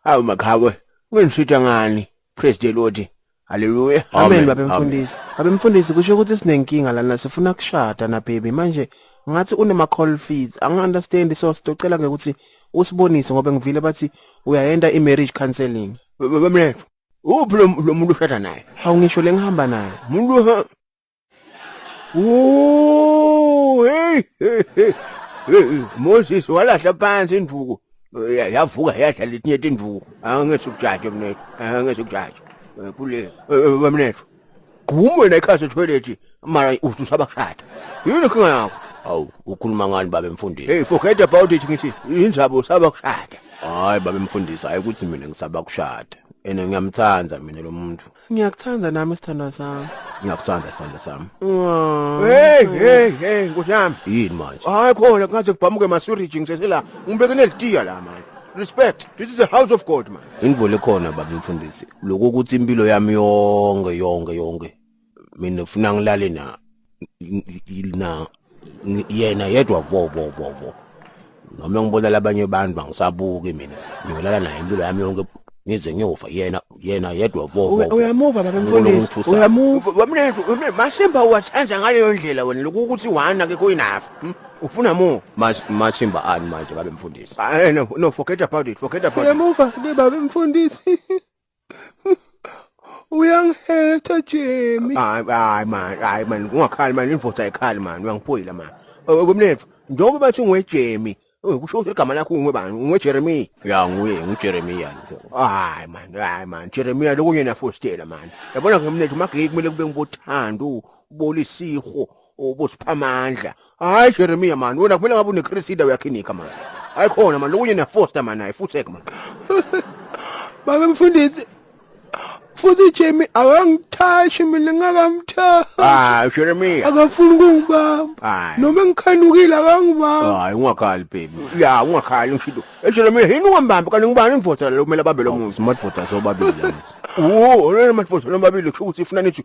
Hawu maqhawe, ungisitha ngani? Praise the Lord. Hallelujah. Amen Amen, babe amen. mfundisi. Babe mfundisi kusho ukuthi sinenkinga lana sifuna kushada na baby manje ngathi unema call fees angi understand so sitocela ke ukuthi usibonise ngoba ngivile bathi uyayenda i marriage counseling. Bamlethu. Uphi lo lo muntu ushada naye? Hawu ngisho lengihamba naye. Umuntu Ooh, hey, hey, hey. Eh, Moses walahla phansi induku. Eh, Yavuka yadla letinye tinduku. Angeke ukujaje mina. Angeke ukujaje. Eh, Kule eh, bamnethu. Gquma wena ikhasi etoilet mara ususa bakushada. Yini inkinga yakho? Awu, ukhuluma ngani babe mfundisi? Hey, forget about it ngithi injabo saba kushada. Hayi babe mfundisi, hayi ukuthi mina ngisaba kushada. Ene ngiyamthanda mina lo muntu. Ngiyakuthanda nami sithandwa sami. Ngiyakuthanda sithandwa sami. Wow. Hey hey hey nkosi yami. Yini manje? Hayi khona kungaze kubhamuke masuriji ngisesela. Ngibeke nelitiya la manje. Respect. This is a house of God man. Indvole khona baba mfundisi. Lokho ukuthi impilo yami yonke yonke yonke. Mina ufuna ngilale na na yena yedwa vo vo vo vo noma ngibonela abanye abantu bangisabuki mina ngiyolala naye impilo yami yonke ngize ngiyofa yena yena yedwa vo vo uyamuva baba mfundisi uyamuva wamnethu masimba uwathanda ngaleyo ndlela wena lokhu ukuthi wana ke kuyinafu hmm? ufuna mu masimba ani manje baba mfundisi ah, eh, no forget about it forget about it uyamuva ke baba mfundisi uyangihetha Jemi hayi hayi man hayi man ungakhali man imvotha ekhali man uyangiphoyila man kumnethu njengoba bathi ungwejemi kusho ukuthi igama lakho ungwe bani ungwe Jeremy ya nguye ngu Jeremy yani hayi man hayi man Jeremy lokunye na fostela man yabona ke mnethu mageke kumele kube ngibothando ubolisiho ubusiphamandla hayi Jeremiah mani wena kumele ngabe unecresida uyakhinika mani hayi khona mani lokunye nefoster mani hayi fusek mani baba mfundisi futhi Jimmy akangithashi mina ngakamthashi hayi Jeremiah akafuni ukungibamba Hayi. noma ngikhanukile akangibamba hayi ungakhali baby ya ungakhali ngishido eJeremiah yini ungambambi kanti ngubani imvota lo kumele abambe lo muntu smart vota sobabili uwo lona manje vota lomabili kusho ukuthi ifuna nithi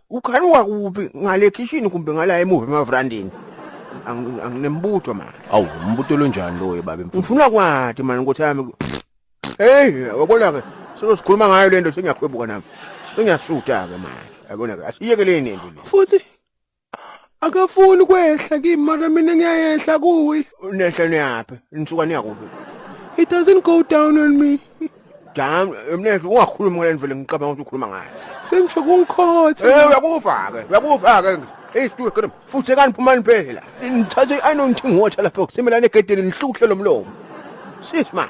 ukhanuka kuphi ngale khishini kumbe ngala emuva emavrandini Angi- anginembutho mani awu umbuto lonjani loyo baba emfundisi ngifuna kwati mani nkothi yami heyi yabona-ke sezosikhuluma ngayo le nto sengiyakhwebuka nami sengiyasuta-ke manje yabona-ke asiyekeleni into le futhi akafuni ukwehla kimi mara mina ngiyayehla kuye Nehle niyaphi? Nisuka niya kuphi? he doesn't go down on me Jam, mnehle ungakhulumi ngale ndlela ngicabanga ukuthi ukhuluma ngayo. sengisho kungikhotha Eh uyakufa ke, uyakufa ke. Hey stuwe kodwa futhi kani phumani phela. Ngithathe i know ngithinga water lapha ukusimela negedeni ngihluhle lomlomo. Sis man.